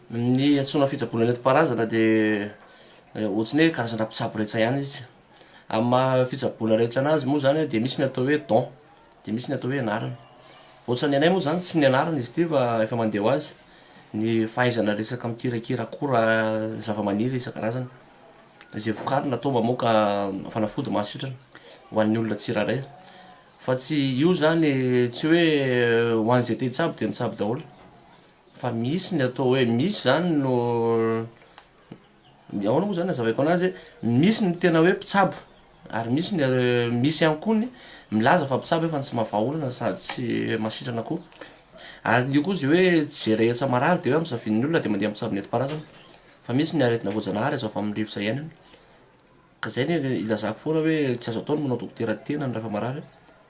Ny antsoina fitsaboana nentim-paharazana dia ohatry ny hoe karazana mpitsabo rehetsa ihany izy. Amin'ny maha fitsaboana rehetsa an'azy moa izany dia misy ny atao hoe don. Dia misy ny atao hoe anarana. Ohatran' ny anay moa izany tsy ny anarana izy ity fa efa mandeha ho azy ny fahaizana resaka mikirakira akora zavamaniry isan-karazany izay vokarina atao mamoaka fanafody mahasitrana ho an'ny olona tsirairay. Fa tsy io izany tsy hoe ho an'izay te hitsabo dia mitsabo daholo fa misy ny atao hoe misy izany no Ny ahoana moa izany nazavaiko anazy hoe misy ny tena hoe mpitsabo ary misy ny misy ihany koa ny milaza fa mpitsabo efa ny tsy maha vahaolana sady tsy mahasitrana koa ary io koa zay hoe tsy zay rehetsa marary de hoe amin'ny savian'ny olona de mandeha mpitsabo nentim-paharazana fa misy ny aretina voajanahary azo avy amin'ny rivotra iainana Ka zay ny ilazako foana hoe tsy azo atao ny manao dokotera tenany rehefa marary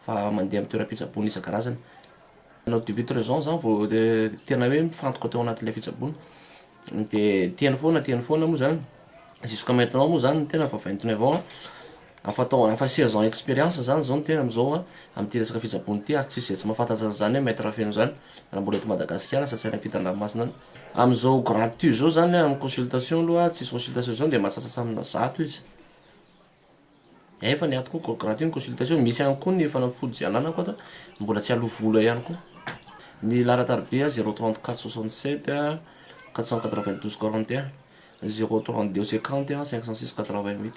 fa mandeha amin'ny toeram-pitsaboana isan-karazany. Nanao début de raison zany vao tena hoe mifantoka teo anatin'ilay fitsaboana. De teny foana teny foana moa zany jusqu'à maintenant moa zany ny tena efa vingt neuf ans a, afa taona afa seize ans expérience zany zao ny tena am'zao a, am'ty resaka fitsaboana ty ary tsisy zay tsy mahafantatra an'zany hoe maitre feno zany. Raha mbola eto Madagasikara asa tsy any ampita an-dranomasina any. Amin'izao gratuit izao izany hoe amin'ny consultation aloha tsisy consultation izao dia mahatsasasa amina zato izy. Efa ny aty koa gratuit ny consultation, misy ihany koa ny fanafody izay ananako ato mbola tsy aloa vola ihany koa. Ny laharan-tariby an, zéro trente quatre soixante sept quatre cent quatre vingt douze quarante et un, zéro trente deux cinquante cinq cent six quatre vingt huit.